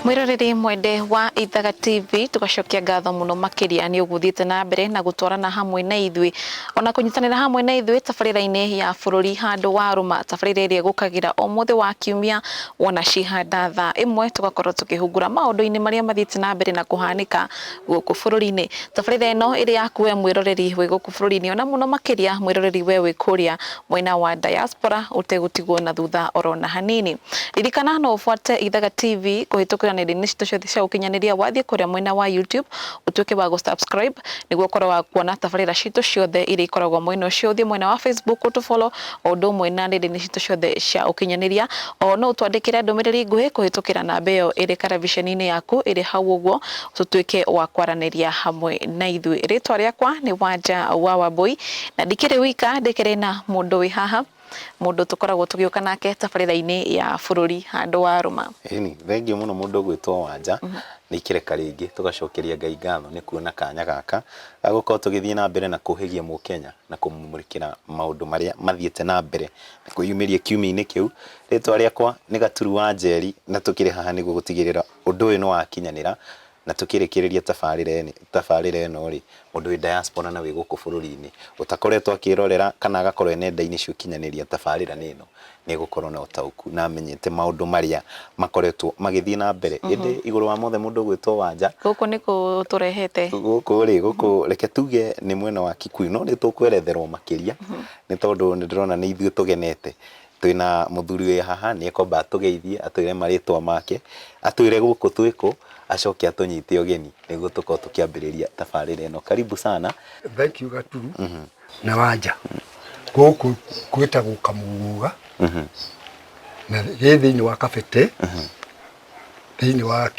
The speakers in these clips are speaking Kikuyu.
mwiroreri mwende wa ithaga tv tugacokia ngatho muno makiria ni uguthiite na mbere na gutwarana hamwe na ithui ona kunyitanira hamwe na ithui tabarira-ini ya bururi handu wa ruma tabarira iria igukagira umuthi wa kiumia wona cihanda thaa imwe tugakorwo tukihungura maundu-ini maria mathiite na mbere na kuhanika gũkũ bũrũri-inĩ. Tabarĩra ĩno ĩrĩ yaku we mwĩroreri wĩ gũkũ bũrũri-inĩ ona mũno makĩria mwĩroreri we wĩ kũrĩa mwena wa diaspora ũtegũtigwo na thutha oro na hanini. Ririkana no ũbuate Ithaga TV kũhĩtũkĩra nenda-inĩ citũ ciothe cia ũkinyanĩria wathiĩ kũrĩa mwena wa YouTube ũtuĩke wa gũ subscribe nĩguo ũkorwo wa kuona tabarĩra citũ ciothe iria ikoragwo mwena ũcio, ũthiĩ mwena wa Facebook ũtũ follow o ũndũ ũmwe na nenda-inĩ citũ ciothe cia ũkinyanĩria. O no ũtwandĩkĩre ndũmĩrĩri nguhĩ kũhĩtũkĩra namba ĩyo ĩrĩ karabiceni-inĩ yaku ĩrĩ hau ũguo, tũtuĩke wa kwaranĩria hamwe na ithuĩ. Rĩĩtwa rĩakwa nĩ Wanja wa Wambũi, na ndikĩrĩ wika, ndĩkĩrĩ na mũndũ wĩ haha, mũndũ tũkoragwo tũgĩũka nake tabarĩra-inĩ ya bũrũri handũ wa rũma. Ĩni, thengiũ mũno mũndũ ũgwĩtwo Wanja, nĩ ikĩreka rĩngĩ tũgacokeria Ngai ngatho nĩ kuona kanya gaka ga gũkorwo tũgĩthiĩ na mbere na kũhĩgia Mũkenya. na kũmũmũrĩkĩra maũndũ marĩa mathiĩte na mbere na kwĩyumĩria kiumia-inĩ kĩu. Rĩtwa rĩakwa nĩ Gaturu Wanjeri na tũkĩrĩ haha nĩguo gũtigĩrĩra ũndũ ũyũ nĩ wakinyanĩra na tũkĩrĩkĩrĩria tabarĩra ĩno rĩ, mũndũ wĩ diaspora na wĩ gũkũ bũrũri-inĩ ũtakoretwo akĩrorera kana agakorwo e nenda-inĩ cia ũkinyanĩria tabarĩra-inĩ ĩno nĩ egũkorwo na ũtaũku na amenyete maũndũ marĩa makoretwo magĩthiĩ na mbere. Ĩndĩ igũrũ wa mothe mũndũ ũgwĩtwo Wanja. Gũkũ nĩkũ ũtũrehete? Gũkũ rĩ, gũkũ reke tuge nĩ mwena wa Kikuyu, no nĩ tũkweretherwo makĩria nĩ tondũ nĩ ndĩrona nĩ ithuĩ tũgenete. Twĩna mũthuri wĩ haha, nĩ ekwamba atũgeithie, atwĩre marĩtwa make, atwĩre gũkũ twĩ kũ, acoke atũnyite ũgeni nĩguo tũkorwo tũkĩambĩrĩria tabarĩra ĩno. Karibu sana. Thengiũ Gaturu. na wanja gũkũ gwĩtagwo kamũgũga mhm. na gĩ thĩinĩ wa kabete mhm. thĩinĩ wa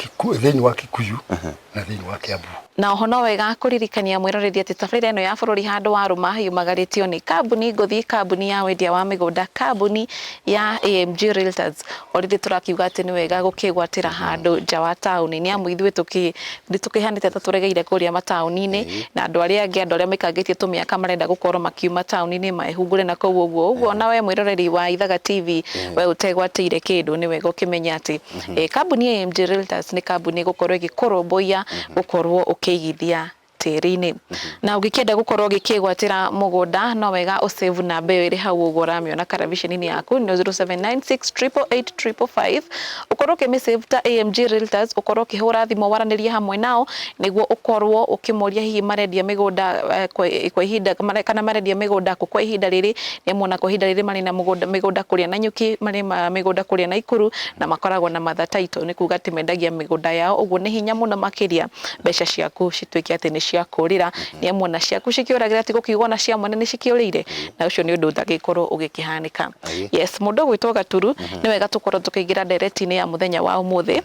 thĩinĩ wa kikuyu mhm. na thĩinĩ wa kiambu na oho no wega kũririkania mwĩroreri atĩ tabarĩra ĩno ya bũrũri handũ wa rũma yumagarĩtio nĩ kambuni ngũthi kambuni ya wendia wa mĩgũnda kambuni ya AMG Realtors, o rĩngĩ tũrakiuga atĩ nĩ wega gũkĩgwatĩra handũ nja wa taũni nĩ amu ithuĩ tũkĩ nĩ tũkĩhanĩte ta tũregeire kũrĩa mataũni-inĩ Ĩĩ. na andũ arĩa angĩ andũ arĩa maikangĩtie tũmĩaka marenda gũkorwo makiuma taũni-inĩ mehungũre na kũu ũguo. Ũguo ona we mwĩroreri wa Ithaga TV we ũtegwatĩire kĩndũ nĩ wega ũkĩmenye atĩ eh, kambuni ya AMG Realtors nĩ kambuni ĩgũkorwo ĩgĩkũrũmbũiya gũkorwo ũkĩigithia tĩri-inĩ. Na ũngĩkĩenda gũkorwo ũgĩkĩgwatĩra mũgũnda no wega ũ save namba ĩyo ĩrĩ hau ũguo ũramĩona karabiceni-inĩ yaku nĩ 0796888555 ũkorwo ũkĩmĩ save ta AMG Realtors ũkorwo ũkĩhũra thimũ waranĩrie hamwe nao nĩguo ũkorwo ũkĩmoria hihi marendia mĩgũnda eh, kwa kwa ihinda mare- kana marendia mĩgũnda kũ kwa ihinda rĩrĩ nĩ amu ona kwa ihinda rĩrĩ marĩ na mũgũnda- mĩgũnda kũrĩa na nyuki marĩ ma- mĩgũnda kũrĩa na ikuru na makoragwo na matha title nĩ kuga atĩ mendagia mĩgũnda yao ũguo nĩ hinya mũno makĩria mbeca ciaku cituĩke atĩ nĩ cia kũũrĩra, nĩ amu ona ciaku cikĩũragĩra ti gũkiuga ona cia mwene nĩ cikĩũrĩire, na ũcio nĩ ũndũ ũtagĩkorwo ũgĩkĩhanĩka. Aye. Yes, mũndũ ũgwĩtwo Gaturu, nĩ wega tũkorwo tũkĩingĩra ndereti-inĩ ya mũthenya wa ũmũthĩ,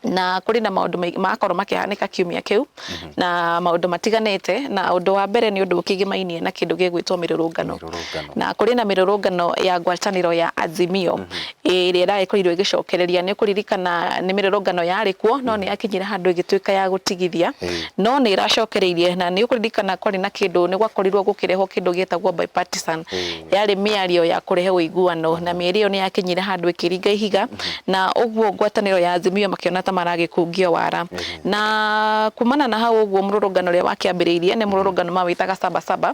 na kũrĩ na maũndũ maingĩ marakorwo makĩhanĩka kiumia kĩu, na maũndũ matiganĩte, na ũndũ wa mbere nĩ ũndũ ũkĩgĩmainie na kĩndũ gĩgwĩtwo mĩrũrũngano. Mĩrũrũngano. Na kũrĩ na mĩrũrũngano ya ngwatanĩro ya Azimio, ĩrĩa ĩragĩkorirwo ĩgĩcokereria nĩ kũririkana nĩ mĩrũrũngano yarĩ kuo no nĩ yakinyire handũ ĩgĩtuĩka ya gũtigithia no nĩ ĩracokereirie na nĩ ũkũririkana kwarĩ na kĩndũ nĩ gwakorirwo gũkĩrehwo kĩndũ gĩtagwo bipartisan yarĩ mĩario ya kũrehe ũiguano na mĩario ĩyo nĩ yakinyire handũ ĩkĩringa ihiga na ũguo ngwatanĩro ya Azimio makĩona ta maragĩkungio wara na kumana na hau ũguo mũrũrũngano ũrĩa wakĩambĩrĩirie nĩ mũrũrũngano mawĩtaga Saba Saba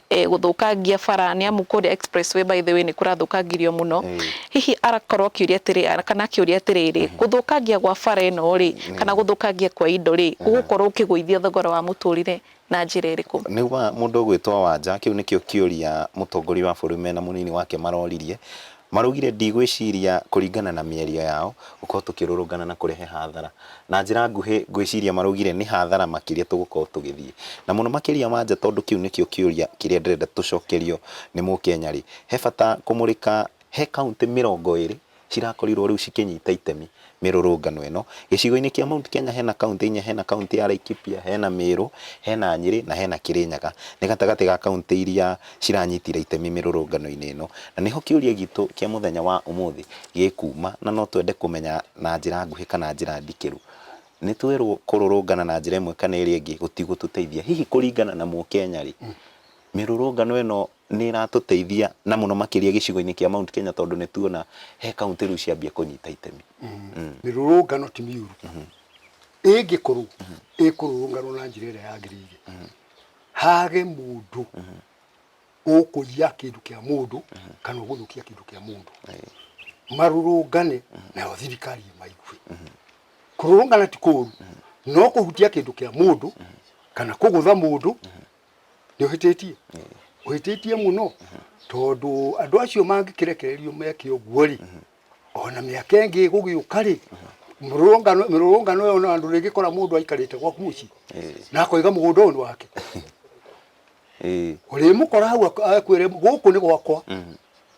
gũthũkangia bara nĩ amu kũrĩa express way by the way nĩ kũrathũkangirio mũno. Hihi agakorwo akĩũria atĩrĩrĩ kana akĩũria atĩrĩrĩ, gũthũkangia gwa bara ĩno rĩ, kana gũthũkangia kwa indo rĩ, gũgũkorwo gũkĩgũithia thogora wa mũtũrĩre na njĩra ĩrĩkũ? Nĩguo mũndũ ũgwĩtwo Wanja, kĩu nĩkĩo kĩũria mũtongoria wa bũrũri mena mũnini wake maroririe. Maraugire, Ndigwĩciria kũringana na mĩario yao, gũkorwo tũkĩrũrũngana na kũrehe hathara. Na njĩra nguhĩ, ngwĩciria maraugire nĩ hathara makĩria tũgũkorwo tũgĩthiĩ. Na mũno makĩria wanja tondũ kĩu nĩkĩo kĩũria kĩrĩa ndĩrenda tũcokerio nĩ Mũkenya-rĩ, he bata kũmũrĩka he kauntĩ mĩrongo ĩrĩ cirakorirwo rĩu cikĩnyita itemi mĩrũrũngano ĩno. Gĩcigo-inĩ kĩa Mount Kenya hena kauntĩ inya, hena kauntĩ ya Laikipia, hena Mĩrũ, hena Nyĩrĩ na hena Kĩrĩnyaga. Nĩ gatagatĩ ga kauntĩ iria ciranyitire itemi mĩrũrũngano-inĩ ĩno. Na nĩho kĩũria gitũ kĩa mũthenya wa ũmũthĩ gĩkuuma na no twende kũmenya na njĩra nguhĩ kana njĩra ndikĩru. Nĩ twerwo kũrũrũngana na njĩra ĩmwe kana ĩrĩa ĩngĩ gũtigũtũteithia. Hihi kũringana na Mũkenya rĩ, mĩrũrũngano ĩno nĩ ĩratũteithia na mũno makĩria gĩcigo-inĩ kĩa Mount Kenya tondũ nĩ tuona he kauntĩ rĩu ciambia kũnyita itemi. Mĩrũrũngano ti mĩũru ĩngĩkorwo ĩkũrũrũnganwo na njĩra ĩrĩa yagĩrĩire hage mũndũ ũkũiya kĩndũ kĩa mũndũ kana ũgũthũkia kĩndũ kĩa mũndũ, marũrũngane nayo thirikari ĩmaigue. Kũrũrũngana ti kũũru no kũhutia kĩndũ kĩa mũndũ kana kũgũtha mũndũ nĩ ũhĩtĩtie ũhĩtĩtie mũno tondũ andũ acio mangĩkĩrekererio meke ũguo rĩ ona mĩaka ĩngĩ gũgĩũka rĩ mĩrũrũngano mĩrũrũngano ĩyo na andũ rĩngĩ kora mũndũ aikarĩte gwaku mũciĩ na akoiga mũgũnda ũyũ nĩ wake Ĩĩ. ũrĩmũkora hau ak- akwĩre gũkũ nĩ gwakwa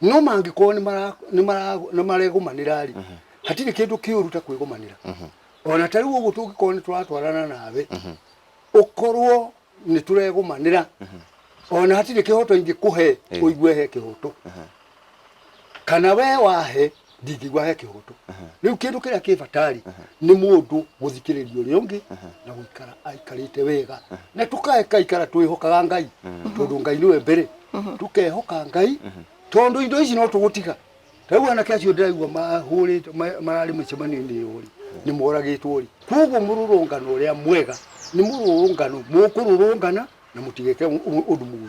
no mangĩkorwo nĩ maregũmanĩra-rĩ mhm. hatirĩ kĩndũ kĩũru ta kwĩgũmanĩra mhm. ona ta rĩu ũguo tũngĩkorwo nĩ tũratwarana nawe mhm. ũkorwo nĩ tũregũmanĩra ona hatirĩ kĩhoto ingĩkũhe ũigue he kĩhoto kana we wahe ndingĩigua he kĩhoto rĩu kĩndũ kĩrĩa kĩ batarĩ nĩ mũndũ mũthikĩrĩria ũrĩa ũngĩ na gũikara aikarĩte wega na tũkae kaikara twĩhokaga ngai tondũ ngai nĩwe mbere tũkehoka ngai tondũ indo ici no tũgũtiga rĩu anake acio ndĩraigua mahũrĩte ma- mararĩ mĩcemanio-inĩ ĩyo rĩ nĩ moragĩtwo rĩ koguo mũrũrũngano ũrĩa mwega nĩ mũrũrũngano mũkũrũrũngana na mũtigeke ũ- ũ- ũndũ mũru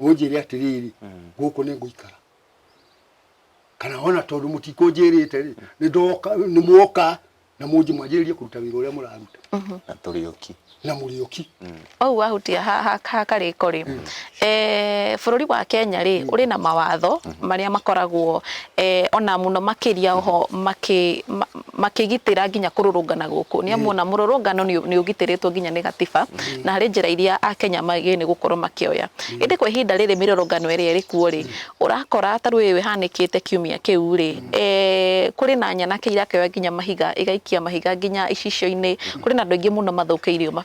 ũnjĩre atĩrĩrĩ gũkũ nĩ ngũikara kana ona tondũ mũtikũnjĩrĩte rĩ nĩ ndoka nĩ muoka na mũnji mwanjĩrĩrie kũruta wĩra ũrĩa mũraruta na tũrĩ oki na mũrĩ oki ũguo wahutia ha- ha- ha karĩko rĩ eh, bũrũri wa kenya rĩ ũrĩ na mawatho marĩa makoragwo eh, ona mũno makĩria oho makĩ- ma- makĩgitĩra nginya kũrũrũngana gũkũ nĩ amu ona mũrũrũngano nĩ nĩ ũgitĩrĩtwo nginya nĩ gatiba na harĩ njĩra iria akenya magĩrĩire nĩ gũkorwo makĩoya ĩndĩ kwa ihinda rĩrĩ mĩrũrũngano ĩrĩa ĩrĩ kuo rĩ ũrakora ta rĩu ĩyo ĩhanĩkĩte kiumia kĩu rĩ eh, kũrĩ na nyanake irakĩoya nginya mahiga igaikia mahiga nginya icicio-inĩ kũrĩ na andũ aingĩ mũno mathũkĩirio ma-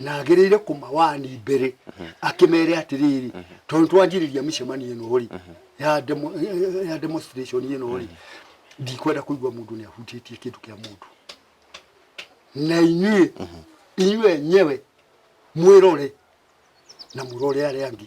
na agĩrĩire kũmawani mbere akĩmere atĩrĩrĩ tondũ twanjĩrĩria mĩcemanio ĩno rĩ ya demo- eh, ya demonstration ĩno rĩ ndikwenda kũigua mũndũ nĩ ahutĩtie kĩndũ kĩa mũndũ na inyuĩ inyuĩ enyewe mwĩrore na mũrore arĩa angĩ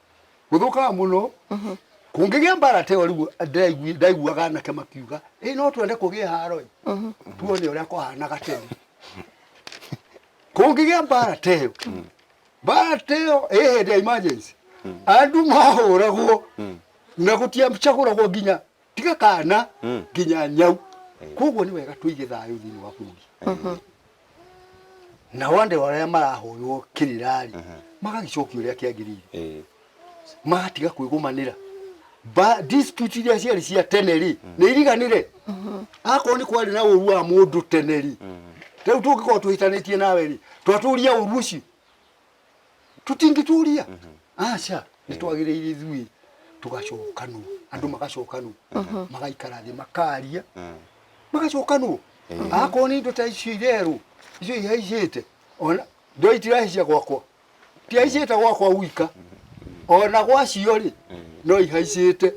gũthũkaga mũno kũngĩgĩa mbara teyo rĩu ndĩraigui- ndaiguaga anake makiuga ĩ no twende kũgĩe haro ĩ tuone ũrĩa kwahanaga tene kũngĩgĩa mbara teyo mbara teyo ĩ hĩndĩ ya emergency andũ mahũragwo na gũtiacagũragwo nginya tiga kana Mm. nginya nyau koguo nĩ wega tũige thayũ thĩinĩ wa bũrũri na wande arĩa marahũrwo kĩrĩrarĩ magagĩcokio ũrĩa kĩagĩrĩire Eh. magatiga kwĩgũmanĩra Ba- dispute iria ciarĩ cia tene rĩ nĩ iriganire akorwo nĩ kwarĩ na ũru wa mũndũ tene rĩ rĩu tũngĩkorwo twĩtanĩtie nawe rĩ twatũria ũru ũcio tũtingĩtũria aca nĩ twagĩrĩire ithuĩ tũgacokanwo andũ magacokanwo magaikara thĩ makaria magacokanwo akorwo nĩ indo ta icio irerwo icio ihaicĩte ona ndo itirahaicia gwakwa tihaicĩte gwakwa gwika ona gwacio rĩ no ihaicĩte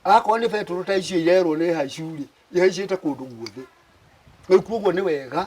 akorwo nĩ betũrũ ta icio irerwo nĩ haicu rĩ ihaicĩte kũndũ guothe rĩu koguo nĩ wega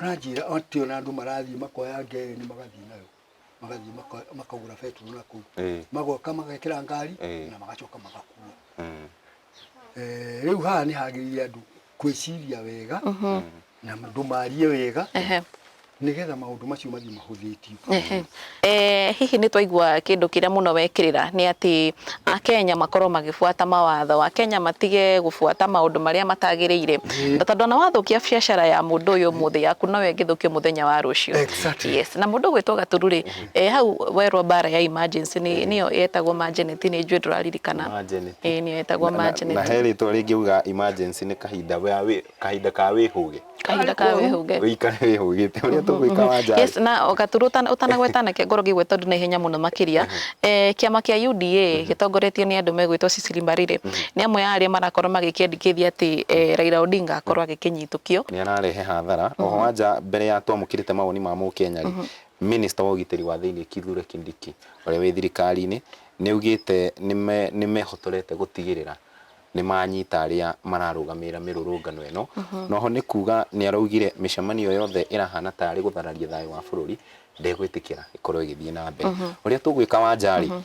Aranjĩra atĩ ona andũ marathiĩ makoya ngereni magathiĩ nayo magathiĩ maka- makagũra betũrũ na kũu Eh. magoka magekĩra ngari Eh. na magacoka magakua Mm. Eh, rĩu haha nĩ hagĩrĩire andũ kwĩciria wega na andũ marie wega Ehe. nĩgetha maũndũ macio mathiĩ mahũthĩtio Ehe. Eh, hihi nĩ twaigua kĩndũ kĩrĩa mũno wekĩrĩra nĩ atĩ akenya makorwo magĩbuata mawatho akenya matige gũbuata maũndũ marĩa matagĩrĩire na tondũ ona wathũkia biacara ya mũndũ ũyũ mũthĩ yaku noyo ĩngĩthũkio mũthenya wa rũciũ Exactly. yes na mũndũ gwĩtwo gaturu rĩ eh, hau werwo mbara ya emergency nĩ nĩyo yetagwo magenet nĩ njũĩ ndũraririkana Magenet. Eh, nĩyo yetagwo Na- na- na magenet he rĩtwa rĩngĩ uga emergency nĩ kahinda wea wĩ kahinda ka wĩhũge kahinda ka wĩhũge wĩikare wĩhũgĩte ũrĩa tũgwĩka wanja yes na gaturu ũtanagweta nake ngoro ngĩgwe tondũ na ihenya mũno makĩria eh, kĩama kĩa UDA mhm. gĩtongoretio nĩ andũ megwĩtwo Cecily Mbarire mhm. nĩ amwe ya arĩa marakorwo magĩkĩandĩkithia atĩ eh, mhm. Raila Odinga akorwo agĩkĩnyitũkio nĩ ararehe hathara oho wanja mbere ya twamũkĩrĩte mawoni ma mũkenya rĩ minista wa ũgitĩri wa thĩinĩ Kithure Kindiki ũrĩa wĩ thirikari-inĩ nĩ augĩte nĩ mehotorete gũtigĩrĩra nĩ manyita arĩa mararũgamĩrĩra mĩrũrũngano ĩno. Na oho nĩ kuga nĩ araugire mĩcemanio yothe ĩrahana tarĩ gũthararia thayũ wa bũrũri ndegwĩtĩkĩra ĩkorwo ĩgĩthiĩ na mbere. Ũrĩa tũgwĩka Wanja rĩ,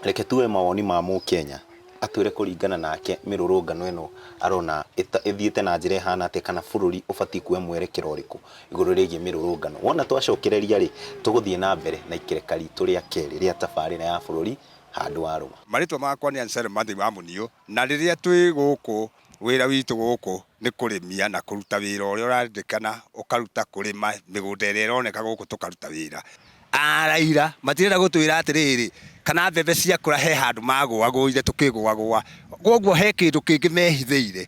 reke tuoe mawoni ma Mũkenya atwĩre kũringana nake mĩrũrũngano ĩno arona ĩta- ĩthiĩte na njĩra ĩhana atĩa kana bũrũri ũbatiĩ kuoya mwerekera ũrĩkũ igũrũ rĩgiĩ mĩrũrũngano. Wona twacokereria rĩ, tũgũthiĩ na mbere na ikereka ritũ rĩa kerĩ rĩa tabarĩra ya bũrũri handũ wa rũma. Marĩtwa makwa nĩ Anselm Mathĩi wa Mũniũ, na rĩrĩa twĩ gũkũ wĩra witũ gũkũ nĩ kũrĩmia na kũruta wĩra ũrĩa ũrarĩndĩkana ũkaruta kũrĩma mĩgũnda ĩrĩa ĩroneka gũkũ tũkaruta wĩra. A Raila matirenda gũtwĩra atĩrĩrĩ kana mbembe ciakũra he handũ magũagũire tũkĩgũagũa kwoguo he kĩndũ kĩngĩ mehithĩire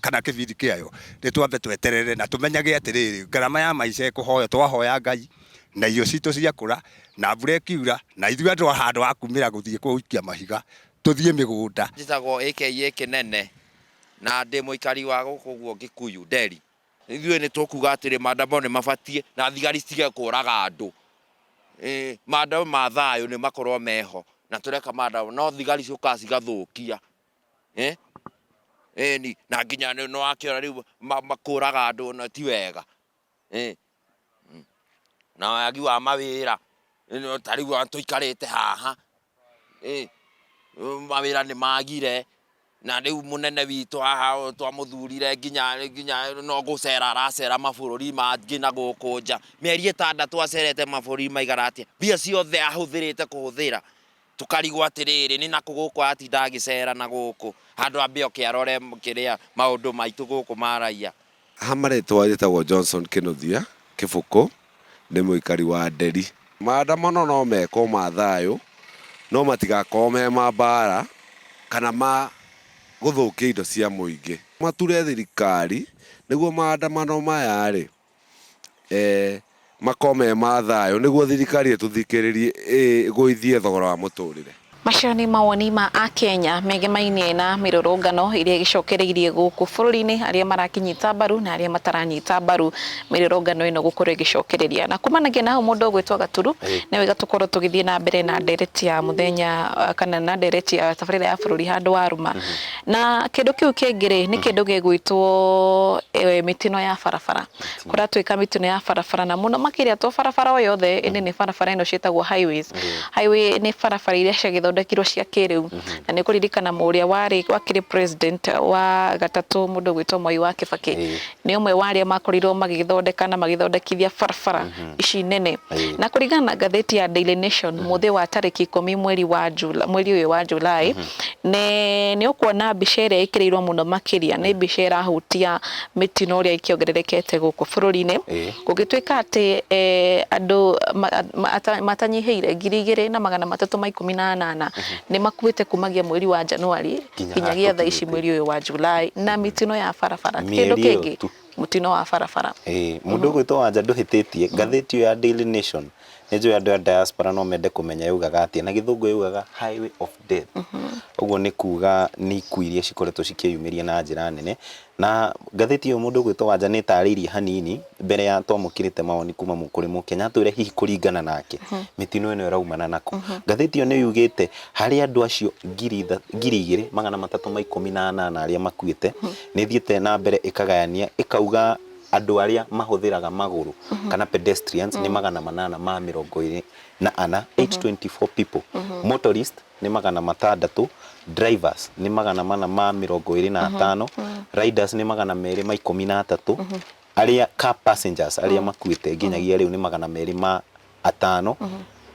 kana kĩbindi kĩayo, nĩ twambe tweterere na tũmenyage atĩrĩrĩ, ngarama ya maica ĩkũhoywo, twahoya Ngai na irio citũ ciakũra, na mbura ĩkiura, na ithuĩ andũ handũ ha kumĩra gũthiĩ gũikia mahiga, tũthiĩ mĩgũnda. Njĩtagwo AKA Kĩnene, na ndĩ mũikari wa gũkũ guo Gĩkuyu, Nderi. Ithuĩ nĩ tũkuga atĩrĩ, maandamano nĩ mabatiĩ, na thigari citige kũraga andũ. Ĩĩ, maandamano ma thayũ nĩ makorwo meho, na tũreka maandamano, no thigari ciũkaga cigathũkia. ĩ, ĩni na nginya nĩwakĩona rĩu makũraga andũ na ti wega, ĩ, na wagi wa mawĩra, ta rĩu ona tũikarĩte haha, ĩ, mawĩra nĩmagire, na rĩu mũnene witũ haha twamũthurire nginya nginya no gũcera aracera mabũrũri mangĩ na gũkũ nja, mĩeri ĩtandatũ acerete mabũrũri maigana atĩa, mbia ciothe ahũthĩrĩte kũhũthĩra Tũkarigwo atĩrĩrĩ, nĩ nakũ gũkũ atinda agĩcera na gũkũ, handũ ambe oke arore kĩrĩa, maũndũ maitũ gũkũ ma raiya. Ha marĩtwa njĩtagwo Johnson Kĩnũthia Kĩbũkũ, ndĩ mũikari wa Nderi. Maandamano no mekwo ma thayũ, no matigakorwo me ma mbaara kana ma gũthũkia indo cia mũingĩ. Mature thirikari nĩguo maandamano maya-rĩ. eh, makoo me ma thayũ nĩguo thirikari ĩtũthikĩrĩrie ĩgũithie thogora wa mũtũrĩre. Macio nĩ mawoni ma Akenya megemainie na mĩrũrũngano ĩrĩa ĩgĩcokereirie gũkũ bũrũri-inĩ, arĩa marakĩnyita mbaru na arĩa mataranyita mbaru mĩrũrũngano ĩno gũkorwo ĩgĩcokereria. Na kumanagia na hau mũndũ ũgwĩtwo Gaturu, nĩ wega tũkorwo tũgĩthiĩ na mbere na ndereti ya mũthenya kana na ndereti ya tabarĩra ya bũrũri handũ wa ruma. Na kĩndũ kĩu kĩngĩ rĩ nĩ mm. kĩndũ gĩgwĩtwo e, mĩtino ya barabara kũratuĩka mĩtino ya barabara na mũno makĩria to barabara o yothe ĩndĩ nĩ barabara ĩno ciĩtagwo highways mm. highway nĩ barabara iria ciagĩthondekirwo cia kĩrĩu mm-hmm. na nĩ kũririkana mũrĩa warĩ wakĩrĩ president wa gatatũ mũndũ gwĩtwo Moi wa Kibaki nĩ ũmwe wa arĩa makorirwo magĩthondeka na magĩthondekithia barabara mm -hmm. ici nene Aye. na kũringana na ngathĩti ya Daily Nation mm -hmm. mũthĩ wa tarĩki ikũmi mweri wa Jula, mweri ũyũ wa Julai mm -hmm. nĩ ũkuona mbica ĩrĩa ĩkĩrĩirwo mũno makĩria nĩ mbica ĩrahutia mĩtino ũrĩa ikĩongererekete gũkũ bũrũri-inĩ gũgĩtuĩka atĩ e, andũ matanyihĩire ngiri igĩrĩ na magana matatũ ma ikũmi na anana mhm. nĩ makuĩte kumagia mweri wa Januari nginyagia thaa ici mweri ũyũ wa July na mitino ya barabara ti kĩndũ Mĩeri ĩyo kĩngĩ tu. mutino wa barabara Ĩĩ, mũndũ ũgwĩtwo wanja ndũhĩtĩtie ngathĩti ĩyo ya Daily Nation nĩ njũĩ andũ a diaspora no mende kũmenya yaugaga atĩa na gĩthũngũ yaugaga highway of death ũguo nĩ kuga nĩ ikuũ iria cikoretwo cikĩyumĩria na njĩra nene Na ngathĩti ĩyo mũndũ ũgwĩtwo Wanja nĩ ĩtaarĩirie hanini mbere ya twamũkĩrĩte mawoni kuma mũ- kũrĩ Mũkenya atwĩre hihi kũringana nake mĩtino ĩno ĩraumana nakũ. Ngathĩti ĩyo nĩ yugĩte harĩ andũ acio ngiri itha- ngiri igĩrĩ magana matatũ ma ikũmi na anana arĩa makuĩte, nĩ ĩthiĩte na mbere ĩkagayania ĩkauga andũ arĩa mahũthĩraga magũrũ kana pedestrians nĩ magana manana ma mĩrongo ĩrĩ na ana, 824 people, motorists nĩ magana matandatũ, drivers nĩ magana mana ma mĩrongo ĩrĩ na atano, riders nĩ magana merĩ ma ikũmi na atatũ, arĩa car passengers arĩa makuĩte nginyagia rĩu nĩ magana merĩ ma atano,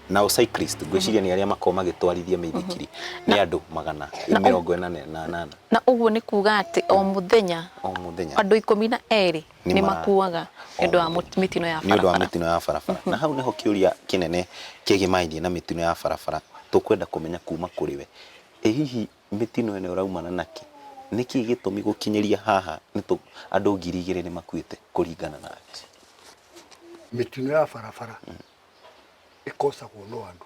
nao cyclist ngwĩciria nĩ arĩa makoragwo magĩtwarithia mĩithikiri nĩ andũ magana mĩrongo ĩna na anana na ũguo nĩ kuga atĩ o mũthenya o mũthenya. andũ ikũmi na erĩ Nĩ nĩ ma- makuaga nĩ ũndũ wa mũ- mĩtino ya nĩ ũndũ wa barabara mĩtino ya barabara na hau nĩho kĩũria kĩnene kĩgĩmainie na mĩtino ya barabara tũkwenda kũmenya kuma kũrĩ we ĩ hihi mĩtino ĩno ĩraumana nakĩ nĩkĩ gĩtũmi gũkinyĩria haha nĩtũ andũ ngiri igĩrĩ nĩ makuĩte kũringana nake mĩtino ya barabara ĩkosagwo no andũ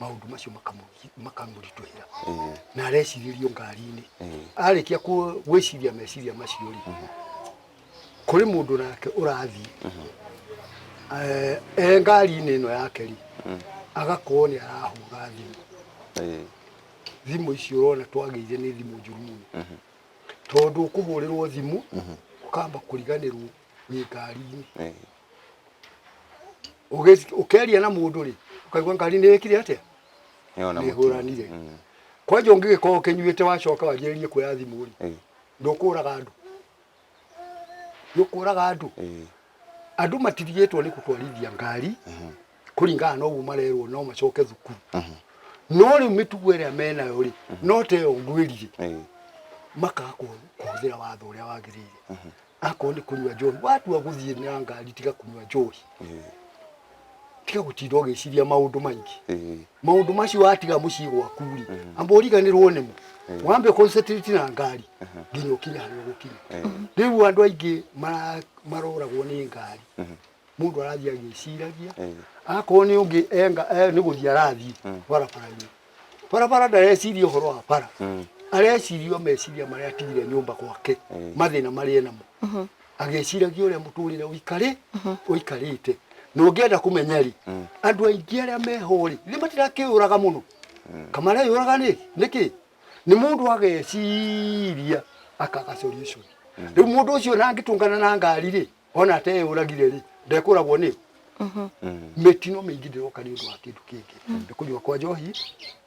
maundu macio makamu- makamũritũhĩra Eh, na arecirĩrio ngari-inĩ eh, arĩkia ku- gwĩciria meciria macio rĩ kũrĩ mũndũ nake ũrathiĩ Eh, e ngari-inĩ ĩno yake rĩ agakorwo nĩ arahũra thimũ eh, thimũ icio ũrona twagĩire nĩ thimũ njũru mũno tondũ ũkũhũrĩrwo thimũ ũkamba kũriganĩrwo wĩ ngari-inĩ eh, Ũgĩ- ũkeria na mũndũ rĩ ũkaigua ngari nĩ ĩkire atĩa Nĩona mũtino. nĩhũranire Mm. kwanja ũngĩgĩkorwo ũkĩnyuĩte wacoka wanjĩrĩrie kuoya thimũ rĩ Ĩĩ, ndũkũraga andũ ndũkũraga andũ ĩĩ. andũ matirigĩtwo nĩ gũtwarithia ngari kũringana na ũguo marerwo no macoke thukuru Mhm. no rĩu mĩtugo ĩrĩa menayo rĩ no ta ĩyo ngwĩrire Ĩĩ. makaga kũ- kũhũthĩra watho ũrĩa wagĩrĩire akorwo nĩ kũnyua njohi watua gũthiĩ na ngari tiga kũnyua njohi tiga gũtinda ũgĩciria maũndũ maingĩ Eh, maũndũ macio watiga mũciĩ gwaku rĩ amba ũriganĩrwo nĩmo wambe concentrate na ngari nginya ũkinye harĩa ũgũkinya eh, rĩu andũ aingĩ mara- maroragwo nĩ ngari mũndũ arathiĩ agĩciragia Eh. akorwo nĩ ũngĩ enga- eh, nĩ gũthiĩ arathiĩ barabara-inĩ barabara ndareciria ũhoro wa bara Mm. areciria o meciria marĩa atigire nyũmba gwake Mm. mathĩna marĩa enamo Mhm. agĩciragia ũrĩa mũtũrĩre ũikarĩ ũikarĩte na ũngĩenda kũmenya rĩ Mm. andũ aingĩ arĩa meho rĩ nĩ matirakĩũraga mũno kamareyũraga nĩ nĩkĩ nĩ mũndũ ageciria akaga solution rĩu mũndũ ũcio na angĩtũngana na ngari rĩ ona te yuragire ri ndekuragwo ni mhm. mitino mingi ndiroka ni undu wa kindu kingi mm. ni kunywa kwa njohi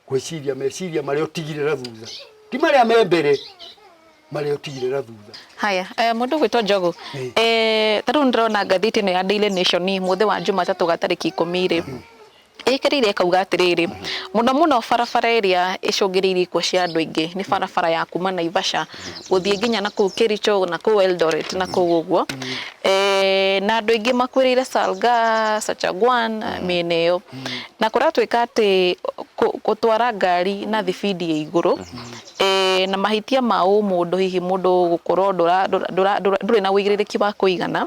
gwiciria meciria maria utigirira thutha ti maria me mbere maria utigirira thutha haya eh, mundu gwitwo njogu eh, tariu ndirona ngathiti ino ya daily nation muthi wa jumatatu gatariki ikumi ri mm. ĩkĩrĩire ĩkauga atĩrĩrĩ, mũno mũno barabara ĩrĩa ĩcũngĩrĩirie ikuũ cia andũ aingĩ nĩ barabara ya kuma Naivasha gũthiĩ nginya na kũu Kericho na kũu Eldoret na kũu ũguo. Eh, na andũ aingĩ makuĩrĩire Salga, Sachagwan, mĩena ĩyo. Na kũratuĩka atĩ kũ- gũtwara ngari na thibindi ya igũrũ Na mahĩtia ma ũmũndũ hihi mũndũ gũkorwo ndũrĩ na ũigĩrĩrĩki wa kũigana,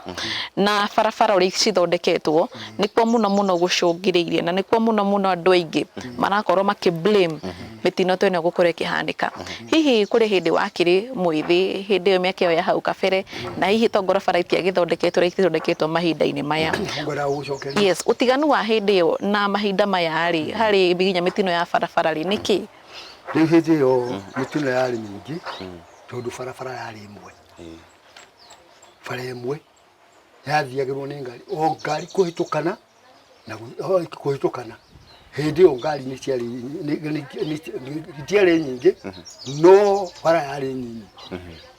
na barabara ũrĩa cithondeketwo nĩkuo mũno mũno gũcũngĩrĩirie na nĩkuo mũno mũno andũ aingĩ marakorwo makĩ blame mĩtino ta ĩno gũkorwo ĩkĩhanĩka. Hihi kũrĩ hĩndĩ wakĩrĩ mwĩthĩ hĩndĩ ĩyo mĩaka ĩyo ya hau kabere na hihi to ngorwo bara itiagĩthondeketwo ũrĩa ithondeketwo mahinda-inĩ maya. Yes, ũtiganu wa hĩndĩ ĩyo na mahinda maya rĩ, harĩ nginya mĩtino ya barabara rĩ, nĩ kĩĩ? rĩu hĩndĩ ĩyo mĩtino yarĩ mĩingĩ tondũ barabara yarĩ ĩmwe Eh, bara ĩmwe yathiagĩrwo nĩ ngari o ngari kũhĩtũkana na gũ- o kũhĩtũkana hĩndĩ ĩyo ngari nĩ ciarĩ nĩ- nĩ- nĩ- nĩ- nĩ ciarĩ nyingĩ no bara yarĩ nyinyi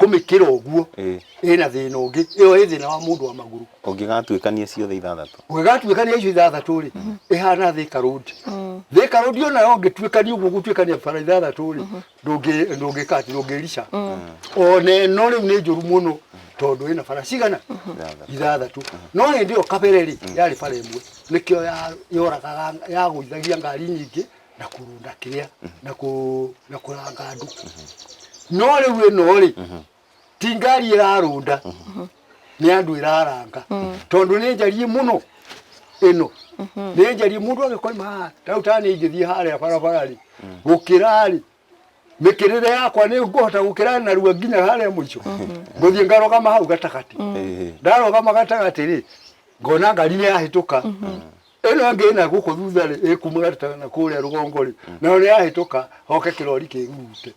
kũmĩkĩra ũguo Ĩĩ. ĩna thĩna ũngĩ ĩyo ĩ thĩna wa mũndũ wa magũrũ ũngĩgatuĩkania ciothe ithathatũ ũngĩgatuĩkania icio ithathatũ rĩ ĩhana thĩka rũndi thĩka rũndi ona yo ũngĩtuĩkania ũguo gũtuĩkania bara ithathatũ rĩ ndũngĩ- ndũngĩkati ndũngĩrica ona ĩno rĩu nĩ njũru mũno tondũ ĩna bara cigana Ithathatũ. ithathatũ no hĩndĩ ĩyo kabere rĩ yarĩ bara ĩmwe nĩkĩo ya- yoragaga yagũithagia ngari nyingĩ na kũrũnda kĩrĩa na kũ na kũranga andũ no rĩu ĩno rĩ ti ngari ĩrarũnda nĩ andũ ĩraranga tondũ nĩ njariĩ mũno ĩno nĩ njariĩ mũndũ agĩkoima haha rĩu ta nĩ ingĩthiĩ harĩa barabara rĩ gũkĩra rĩ mĩkĩrĩre yakwa nĩ ngũhota gũkĩra narua nginya harĩa mũico ngũthiĩ ngarogama hau gatagatĩ Ĩĩ. ndarogama gatagatĩ rĩ ngona ngari nĩ yahĩtũka ĩno ĩngĩ ĩna gũkũ thutha rĩ ĩkuma gatagatĩ na kũrĩa rũgongo rĩ nayo nĩ yahĩtũka hoke kĩrori kĩngute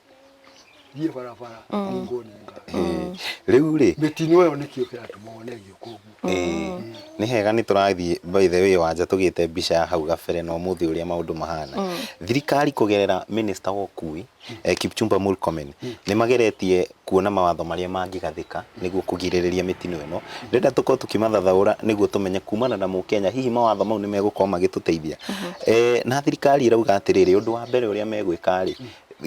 thiĩ barabara ningwo nĩ ngari Ĩĩ. rĩu rĩ mĩtino ĩyo nĩkĩo kĩratũma one gĩũka ũguo Ĩĩ, nĩ hega nĩ tũrathiĩ by the way wanja tũgĩte mbica ya hau gabere na ũmũthĩ ũrĩa maũndũ mahana thirikari kũgerera minista wa ũkui eh, Kipchumba Murkomen nĩ mageretie kuona mawatho marĩa mangĩgathĩka nĩguo kũgirĩrĩria mĩtino ĩno ndĩrenda tũkorwo tũkĩmathathaũra nĩguo tũmenye kumana na mũkenya hihi mawatho mau nĩ megũkorwo magĩtũteithia eh, na thirikari ĩrauga atĩrĩrĩ ũndũ wa mbere ũrĩa megwĩka rĩ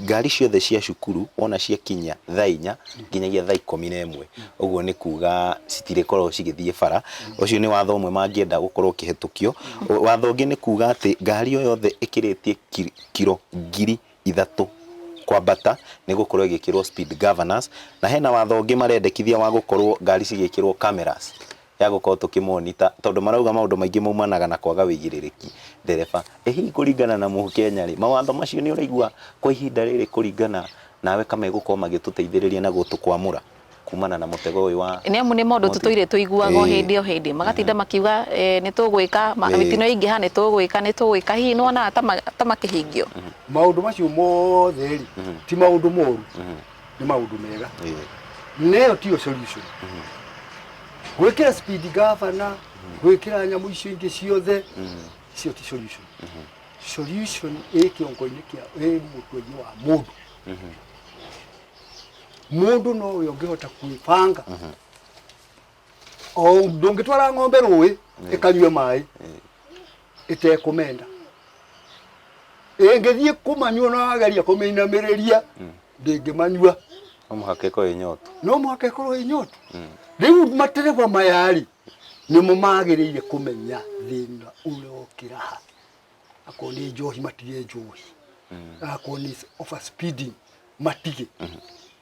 ngari ciothe cia cukuru wona ciakinyia thaa inya nginyagia thaa ikũmi na ĩmwe ũguo nĩ kuga citirĩkorwo cigĩthiĩ bara ũcio nĩ watho ũmwe mangĩenda gũkorwo ũkĩhetũkio O- watho ũngĩ nĩ kuga atĩ ngari o yothe ĩkĩrĩtie ki- kiro ngiri ithatũ kwambata nĩ gũkorwo ĩgĩkĩrwo speed governors na hena watho ũngĩ marendekithia wa gũkorwo ngari cigĩkĩrwo cameras ya gũkorwo tũkĩ monitor tondũ marauga maũndũ maingĩ maumanaga na kwaga ũigĩrĩrĩki. Ndereba, ĩ hihi kũringana na Mũkenya rĩ, mawatho macio nĩ ũraigua kwa ihinda rĩrĩ kũringana nawe ka megũkorwo magĩtũteithĩrĩria na gũtũkwamũra kumana na mũtego ũyũ wa. Nĩ amu nĩ maũndũ tũtũire tũiguaga o hĩndĩ o hĩndĩ, magatinda makiuga nĩ tũgwĩka, mĩtino yaingĩha nĩ tũgwĩka, nĩ tũgwĩka, hihi nĩ wonaga ta makĩhingio? Maũndũ macio mothe rĩ, ti maũndũ moru, nĩ maũndũ mega neyo tiyo solution gwĩkĩra speed governor gwĩkĩra nyamũ icio ingĩ ciothe icio ti solution solution ĩ kĩongo-inĩ kĩa ĩ mũtwe-inĩ wa mũndũ mũndũ no ũyũ ũngĩhota kwĩbanga o ndũngĩtwara ng'ombe rũĩ ĩkanyue maĩ ĩtekũmenda ĩngĩthiĩ kũmanyua na wageria kũmĩinamĩrĩria ndĩngĩmanyua no mũhaka ĩkorwo ĩnyotu no mũhaka ĩkorwo ĩ nyotu rĩu matereba maya-rĩ nĩmo magĩrĩire kũmenya thĩna ũrĩa ũkĩra ha akorwo nĩ njohi matige njohi akorwo nĩ over speeding matige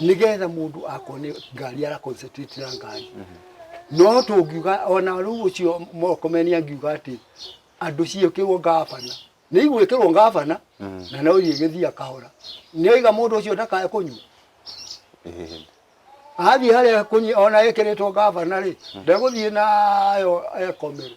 nigetha mundu akone ngari ara concentrate na ngari no tungiuga ona riu ucio mokomeni angiuga ati andu ciikirwo ngabana ni igwikirwo ngabana na no igithia kahora ni oiga mundu ucio ndakae kunywa Ĩhĩhĩ. athiĩ harĩa kũnyi- ona ĩkĩrĩtwo ngavana rĩ ndegũthiĩ nayo ekomere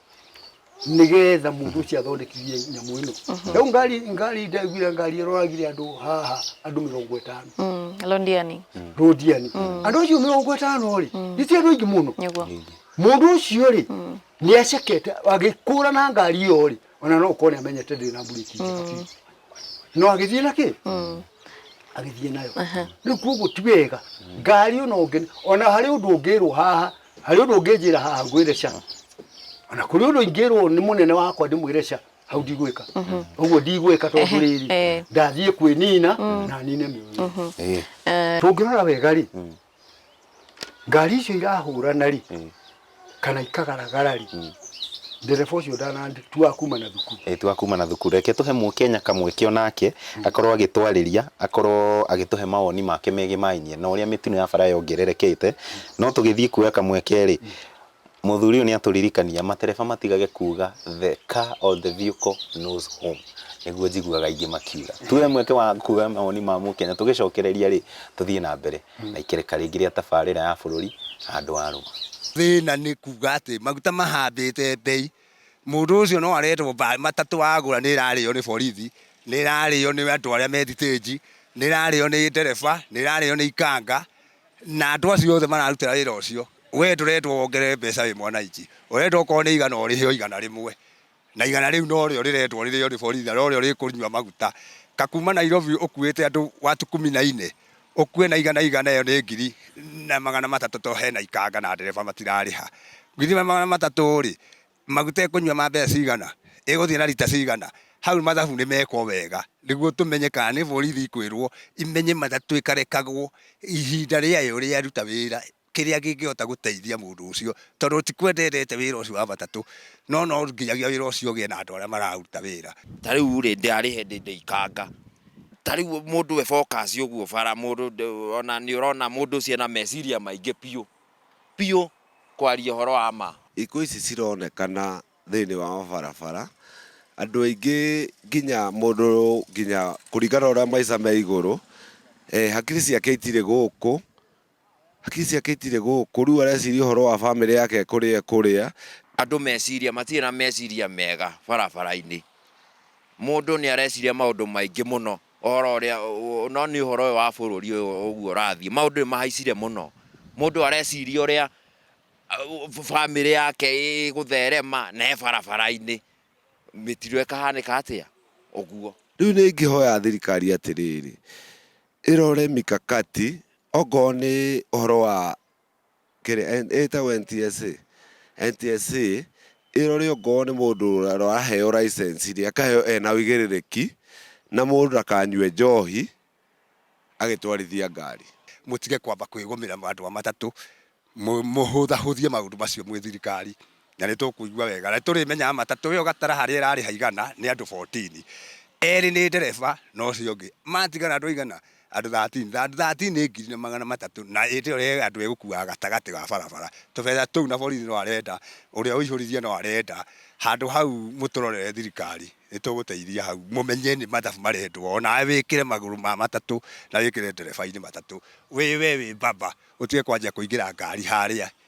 nigetha mundu ucio athondekithie nyamu ino riu ngari ngari ndaiguire ngari iroragire andu haha andu mirongo itano Mm, londiani rundiani andu acio mirongo itano ri niti andu aingi muno niguo mundu ucio ri ni acekete agikura na ngari iyo ri ona no ukone amenyete ndina mburiki njega biũ. no agĩthiĩ na kĩ Mm. agĩthiĩ nayo Aha. rĩu koguo ti wega ngari ona ũngĩ ona harĩ ũndũ ũngĩrwo haha harĩ ũndũ ũngĩnjĩra haha ngwĩre ca ona kũrĩ ũndũ ingĩrwo nĩ mũnene wakwa ndĩmwĩre ca hau ndigwĩka ũguo ndigwĩka tondũ Ehe, rĩrĩ eh. ndathiĩ kwĩnina na nine mĩoyo Eh. tũngĩrora wega rĩ ngari icio irahũrana rĩ Mm. kana ikagaragara rĩ Mm. ndereba ũcio ndanatua kuma na thukuru Eh, twakuma na thukuru reke tũhe mũkenya kamweke onake akorwo agĩtwarĩria akorwo agĩtũhe mawoni make megiĩ mainie na ũrĩa mĩtino ya bara yongererekete no tũgĩthiĩ kuoya kamweke rĩ Mũthuri ũyũ nĩ atũririkania, matereba matigage kuuga the car or the vehicle knows home. Nĩguo njiguaga aingĩ makiuga. Tuoye mweke wa kuuga mawoni ma Mũkenya, tũgĩcokereria rĩ, tũthiĩ na mbere na ikereka rĩngĩ rĩa tabarĩra ya bũrũri na andũ a Rũma. Thĩna nĩ kuuga atĩ maguta mahambĩte mbei. Mũndũ ũcio no aretwo mbaĩ, matatũ agũra nĩ ĩrarĩo nĩ borithi, nĩ ĩrarĩo nĩ andũ arĩa me thitĩnji, nĩ ĩrarĩo nĩ ndereba, nĩ ĩrarĩo nĩ ikanga. na andũ acio othe mararutĩra wĩra ũcio we ndũrendwo wongerere mbeca wĩ mwananchi ũrendwo okorwo nĩ igana ũrĩhe o igana rĩmwe na igana rĩu no rĩo rĩrendwo rĩrĩo nĩ borithi na no rĩo rĩkũnyua maguta kakuma Nairobi ũkuĩte andũ watu kumi na ine ũkue na igana igana ĩyo nĩ ngiri na magana matatũ to hena ikanga na ndereba matirarĩha githĩ magana matatũ rĩ maguta ĩkũnyua ma mbeca cigana, ĩgũthiĩ na rita cigana, hau mathabu nĩ mekwo wega, nĩguo tũmenye kana nĩ borithi ikwĩrwo imenye matatũ ĩkarekagwo ihinda rĩayo rĩaruta wĩra kĩrĩa kĩngĩhota gũteithia mũndũ ũcio, tondũ ti kwenda endete wĩra ũcio wa matatũ, no no nginyagia wĩra ũcio ũgĩe na andũ arĩa maraũruta wĩra. Ta rĩu rĩ, ndĩarĩ hĩndĩ ndaikanga, ta rĩu mũndũ e focus ũguo bara, mũndũ ona nĩ ũrona mũndũ ũcio ena meciria maingĩ biũ. biũ kwaria ũhoro wa ma. Ikuũ ici cironekana thĩinĩ wa mabarabara, andũ aingĩ nginya mũndũ nginya kũringana na ũrĩa maica me igũrũ, hakiri ciake itirĩ gũkũ, hakiri ciake itirĩ gũkũ, rĩu areciria ũhoro wa bamĩrĩ yake kũrĩa ekũrĩa. Andũ meciria, matirĩ na meciria mega barabara-inĩ, mũndũ nĩ areciria maũndũ maingĩ mũno Ũhoro ũrĩa no nĩ ũhoro ũyũ wa bũrũri ũyũ ũguo ũrathiĩ, maũndũ nĩ mahaicire mũno. Mũndũ areciria ũrĩa bamĩrĩ yake ĩgũtherema na e barabara-inĩ, mĩtino ĩkahanĩka atĩa? Ũguo. Rĩu nĩ ingĩhoya thirikari atĩrĩrĩ, ĩrore mikakati, okorwo nĩ ũhoro wa kĩrĩa ĩtagwo NTSA, NTSA ĩrore ongorwo nĩ mũndũ ũraheo license rĩ akaheo ena ũigĩrĩrĩki na mũndũ ndakanyue njohi agĩtwarithia ngari. Mũtige kwamba kwĩgũmĩra andũ a matatũ, mũhũthahũthie maũndũ macio mwĩ thirikari. na nĩ tũkũigua wega na nĩ tũrĩmenyaga matatũ ĩyo gatara harĩa ĩrarĩha igana nĩ andũ 14, erĩ nĩ ndereba na ũcio ũngĩ, matigara andũ aigana? Andũ 13, na andũ 13 nĩ ngiri na magana matatũ na hĩndĩ ĩyo rĩrĩa andũ ĩgũkuaga gatagatĩ ga barabara. Tũbeca tũu na borithi no arenda, ũrĩa ũihũririe no arenda, handũ hau mũtũrorere thirikari, nĩ tũgũteithia hau, mũmenye nĩ mathabu marendwo, o nawe wĩkĩre magũrũ ma matatũ na wĩkĩre ndereba-inĩ matatũ, wĩ we wĩ mbaba, ũtige kwanjia kũingĩra ngari harĩa